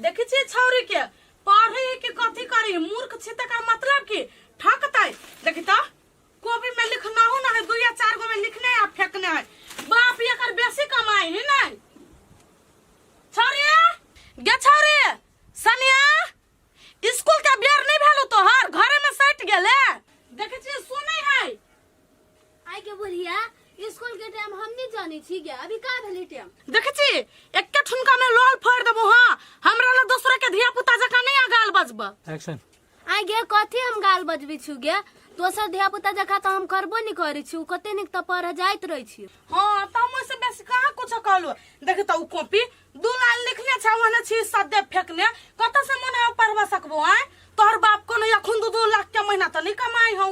देखै छियै छौरी के पढ़ै है कि कथी करै है मूर्ख छै तकर मतलब की ठकतै देखी तो कॉपी में लिखना हो ना है दू या चार गो में लिखने है आ फेंकने है बाप ये कर बेसी कमाई है ना छौरी गे छौरी सनिया स्कूल के बेर नहीं भेलो तोहर घरे में सट गेले देखै छियै सुनै है आइ के बुढ़िया स्कूल के टाइम हम नहीं जाने छी गे अभी का भेले टाइम देखे छी एके ठुमका में लोल फोड़ देबो हां हमरा ला दूसरा के धिया पुता जका नहीं आ गाल बजबा एक्शन आइ गे कथी हम गाल बजबे छु गे दोसर धिया पुता जका तो हम करबो नहीं करे छु कते निक तो पढ़ जाइत रहे छी हां त हम से बेसी कहां कुछ कहलो देखे त उ कॉपी दू लाल लिखने छ वने छी सदे फेकने कत से मन पढ़वा सकबो आय तोहर बाप कोनो अखुन दू दू लाख के महीना त नहीं कमाई हूं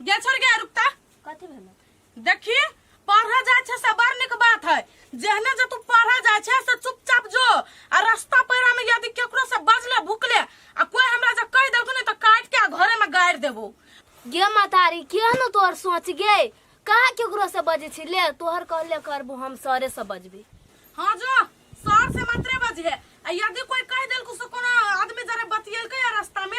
गे छोड़ गे रुकता कथी भेल देखी पढ़े जाय छे से बड़ निक बात है जेहने जे तू पढ़े जाय छे से चुपचाप जो आ रास्ता पैरा में यदि केकरो से बजले भुकले आ कोई हमरा जे कह देलको ने तो काट के आ घरे में गाड़ देबो गे मातारी किया न तोहर सोच गे कहाँ केकरो से बजे छी ले तोहर कहले करबो हम सरे से बजबी हाँ जो सर से मात्रे बजे आ यदि कोई कह देलको से कोनो आदमी जरे बतियलके आ रास्ता में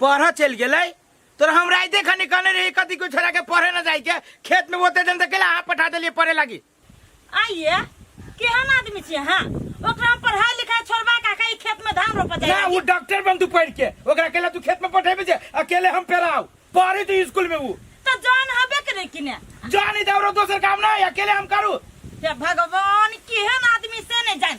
पढ़ चल गेलै तोरा हम राइते खनी कहने रही कथी को छोड़ा के पढ़े न जाए के खेत में बोते दिन तक अहाँ पठा देलिए पढ़े लागी आइए केहन आदमी छी अहाँ ओकरा हम पढ़ाई लिखाई छोड़बा का कहीं खेत में धान रोपा ना जाए वो डॉक्टर बन तू पढ़ के ओकरा अकेला तू खेत में पठेबे जे अकेले हम पेराओ पढ़े तू स्कूल में वो तो जान हबे करे कि ने जान इधर दोसर काम ना है, अकेले हम करू हे भगवान केहन आदमी से नहीं जान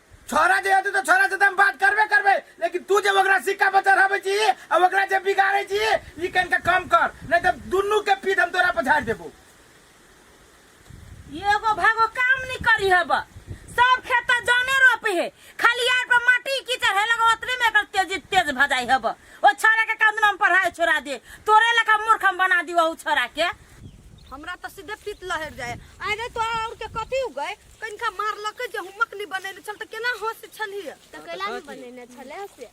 छोरा जे हेतै तऽ छोरा से तऽ हम बात करबे करबै लेकिन तू जे ओकरा सिक्का पर चढ़ाबै छी आ ओकरा जे बिगाड़ै छी ई कनिका कम कर नहि तऽ दुनू के पीठ हम तोरा पर झाड़ि देबो एगो भागो काम नहीं करी है बा सब खेता जाने रोपे है खाली यार पर माटी की चढ़े लगा उतने में एकर तेज तेज भजाई है बा ओ छोरा के काम नाम पढ़ाए छोड़ा दे तोरे लखा मूर्ख हम बना दी वहू छोरा के हमरा तो सीधे पीत लहर जाए आगे तो और के कथी हो गए कनिका मारलक जे हम मकली बनेने छल तऽ केना हँस छलियै तऽ कैला नहि बनेने छलै से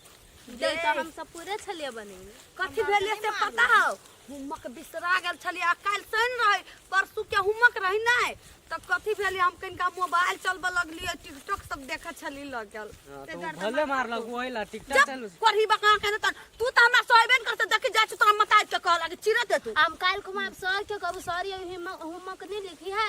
जे तऽ हम सब पूरे छलियै बनेने कथी भेलै से पता हौ हुमक बिसरा गेल छलियै आ काल्हि शनि रहै परसू के हुमक रहै नहि तऽ कथी भेलै हम कनिका मोबाइल चलबऽ लगलियै टिकटॉक सब देखै छलियै लगल हाँ, तो वो भले मार लग वो है ला टिकटॉक जब चल करही बका के त तू तऽ हमरा सोहबे ने करते देखि जाइ छी तोरा मताइ के कहला कि चिरत तू हम काल्हि खुमा सर के कहू सर ये हिम- होमवर्क नहीं लिखी है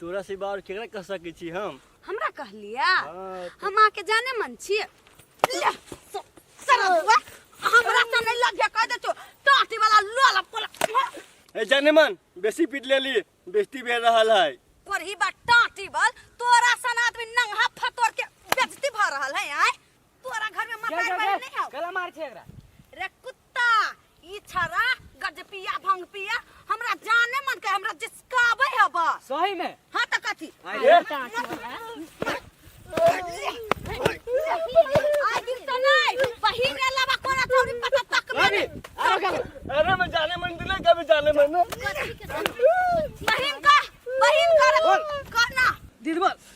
तोरा से बार केकरा कह सकै छी हम हमरा कहलिया हाँ, हम आके जाने मन छिए ले, तो सरदुआ हमरा त नहीं लग कह दे तो टाटी वाला लोला पोला ए जाने मन बेसी पीट लेली बेइज्जती भेल रहल है पर ही बा टाटी बल तोरा सन आदमी नंगा फटोर के बेजती भ रहल है आय तोरा घर में मकान बने नहीं हो गला मार छे एकरा रे कुत्ता ता ई छरा गज पिया भंग पिया हमरा जाने मन के हमरा जिसकाबे है बस सही में हां त कथी आई रे। आई दिन त नहीं बहिन अलावा कोना थोड़ी पता तक में अरे अरे का अरे मैं जाने मन दिले कभी जाने मन ना। बहिन का बहिन का रे, करना दिलबर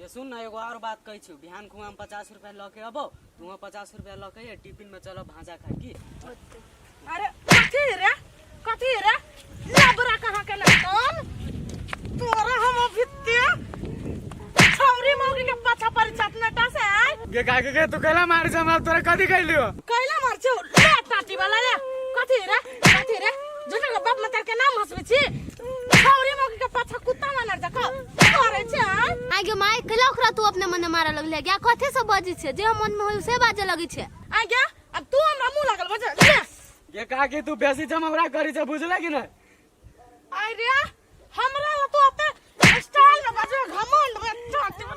ये सुन ना एगो और बात कहै छियो बिहान खुआ हम पचास रुपया लऽ के अबो तुहाँ पचास रुपया लऽ के ये टिफिन में चलो भाजा खाए की अरे कथी रे कथी रे लबरा कहाँ के लटकल तोरा हम अभी ते छौरी मौगी के पाछा पड़ जात नटा से आय गे का के तू कहला मार जमा तोरा कथी कहलियो कैला मार छौ ले टाटी वाला रे कथी रे कथी रे झूठा के बाप मतार के नाम हंसबे छी छौरी मौगी के पाछा कुत्ता मानर जका करे छै हाँ? आगे माय कला ओकरा तू अपने मने मारा लगले क्या कथे से बजी छे जे मन में होय से बाजे लगी छे आ गया अब तू हमरा मुंह लागल बजे ये काकी तू बेसी जमवरा करी छै बुझले कि नहीं अरे हमरा ला तो अते स्टाइल में बाजे घमंड में चाटे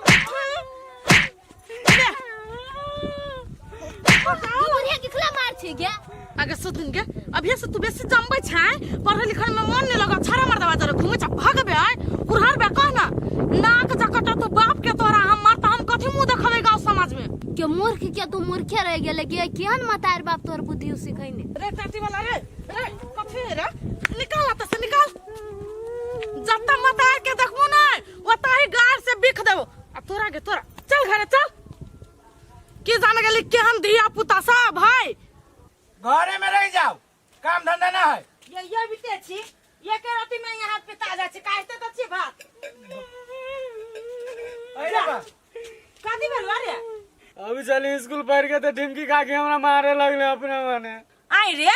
बढ़िया किखला मार छी गे आगे सुन के अभी से तू बेसी जमबै छै पढ़े लिखल में मन नहीं लगा छारा मर दवा जरे घूमे छ भाग बे आय उरहर बे कह ना नाक जकट तो बाप के तोरा हम मार हम कथी मुंह देखबे गांव समाज में के मूर्ख के तू मूर्खे रह गेले के केहन मतार बाप तोर बुद्धि सिखैने रे चाटी वाला रे रे कफेरा निकाल आता से निकाल जब तक मतार के देखबो ना ओता ही गार से बिख देबो आ तोरा के तोरा चल घरे चल की जान गेली केहन धिया पुता सब भाई घरे में रह जाओ काम धंधा ना है ये ये बिते छी ये के राति में यहाँ हाथ पे ताजा छी काटते तो छी भात अरे बा कथी भेल रे अभी चली स्कूल पढ़ के तो ढिमकी खा के हमरा मारे लगले अपने मने आई रे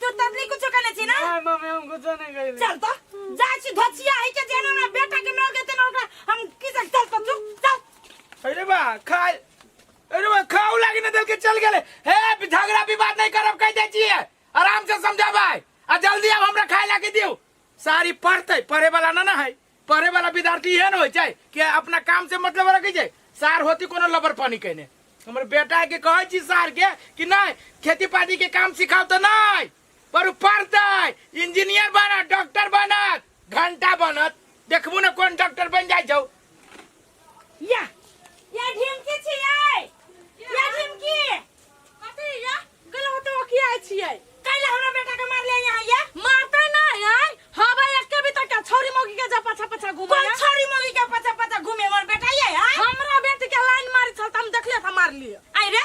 तू तब नहीं कुछ करने छी ना नहीं मम्मी हम कुछ नहीं कइले चल तो जा छी धोचिया है के जेना ना बेटा के मर गए तेना ओकरा हम की जग चल तो चुप चल अरे बा खा अरे बा खाऊ लागी ना दिल के चल गेले हे झगड़ा विवाद नहीं करब कह दे छिए आराम से समझाबै आ जल्दी अब हमरा खाए लागी दियो सारी पढ़ते पढ़े वाला ना ना है पढ़े वाला विद्यार्थी इहे ने होइ छै कि अपना काम से मतलब रखै छै सार होती कोनो लबर पानी कहने हमर बेटा के कहै छी सार के कि नहि खेती पाती के काम सिखाउ तऽ नहि पर उ पढ़तै इंजीनियर बनत डॉक्टर बनत घंटा बनत देखबू ने कोन डॉक्टर बनि जाइ छौ या या ढिमकी छियै या ढिमकी कथी या गल होते ओ किया छियै काल्हि हमरा बेटा के मारले यहाँ या मारते ना है हवा एक के भी तक छोरी मोगी के जा पछा पछा घुमा कोन छोरी मोगी के पछा पछा घुमे मोर बेटा ये है हमरा बेटी के लाइन मारी छल त हम देखले था मार लिए आई रे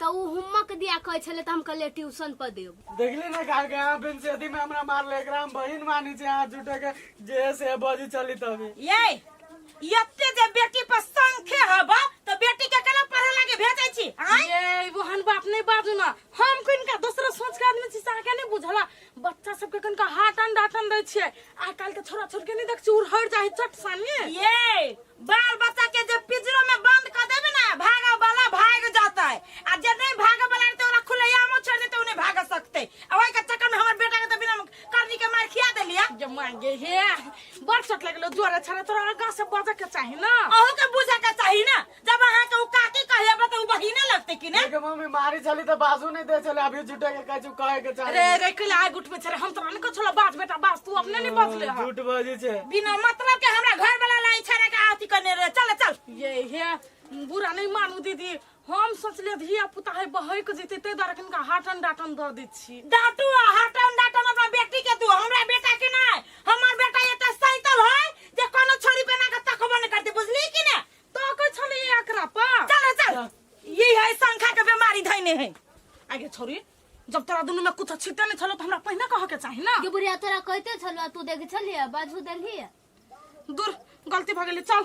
तऽ ओ होमवर्क दिया कहै छलै तऽ हम कहलियै ट्यूशन पर देब देखली ना का के यहाँ बेंचेदी में हमरा मार ले एकरा हम बहिन मानी छे हाथ जुटे के जे से बजी चली तभी ये यते जे बेटी पर संखे हब तो बेटी के केना पढ़े लागे भेजै छी आय ये वो हन बाप नहीं बाजू ना हम को इनका दूसरा सोच के आदमी छी साके नहीं बुझला बच्चा सबके कनका हाटन डाटन दै छियै आइ काल्हि के छोरा छोरी के नहीं देख चूर हर जाही चट सानी ये बाल बच्चा के जे पिजरो में बंद कर देबे ना भागा वाला भाग जाता है आ जे नहीं भागा वाला है तो ओकरा खुलेआम छोड़ देते उन्हें भाग सकते आ ओई के चक्कर में हमर बेटा के तो बिना करनी के मार खिया देलिया जे मांगे हे बड़ चट लगलो जोरे छारे तोरा आगा से बजे के चाही ना अहू के बुझे के चाही ना जब अहाँ के उ काकी कहले बा तो उ बहिने लगते कि ना लेकिन मम्मी मारी चली तो बाजू नहीं दे चले अभी झूठे के कछु कहे के चाहे अरे रे के लाग उठ में छरे हम तो नहीं को छोला बाज बेटा बाज तू अपने नहीं बदले ह झूठ बाजी छे बिना मतलब के हमरा घर वाला लाई छरे के आती करने रे चल चल ये हे बुरा नहीं मानू दीदी हम सोचले धिया पुता है बहै के जीते ते दर का हाटन डाटन द दै छी डाटू आ हटन डाटन अपना बेटी के तू हमरा बेटा के ना हमर बेटा एते सैतल है जे कोनो छोरी बना के तकबो नहीं करते बुझली कि ना ताकै छले एकरा पा चल चल ये है संखा के बीमारी धैने है आगे छोरी जब तोरा दुनु में कुछ छिटे नहीं छलो तो हमरा पहिने कह के चाही ना ये बुढ़िया तोरा कहते छलवा तू देखे छलिया बाजू देलिया दूर गलती भ गेलै चल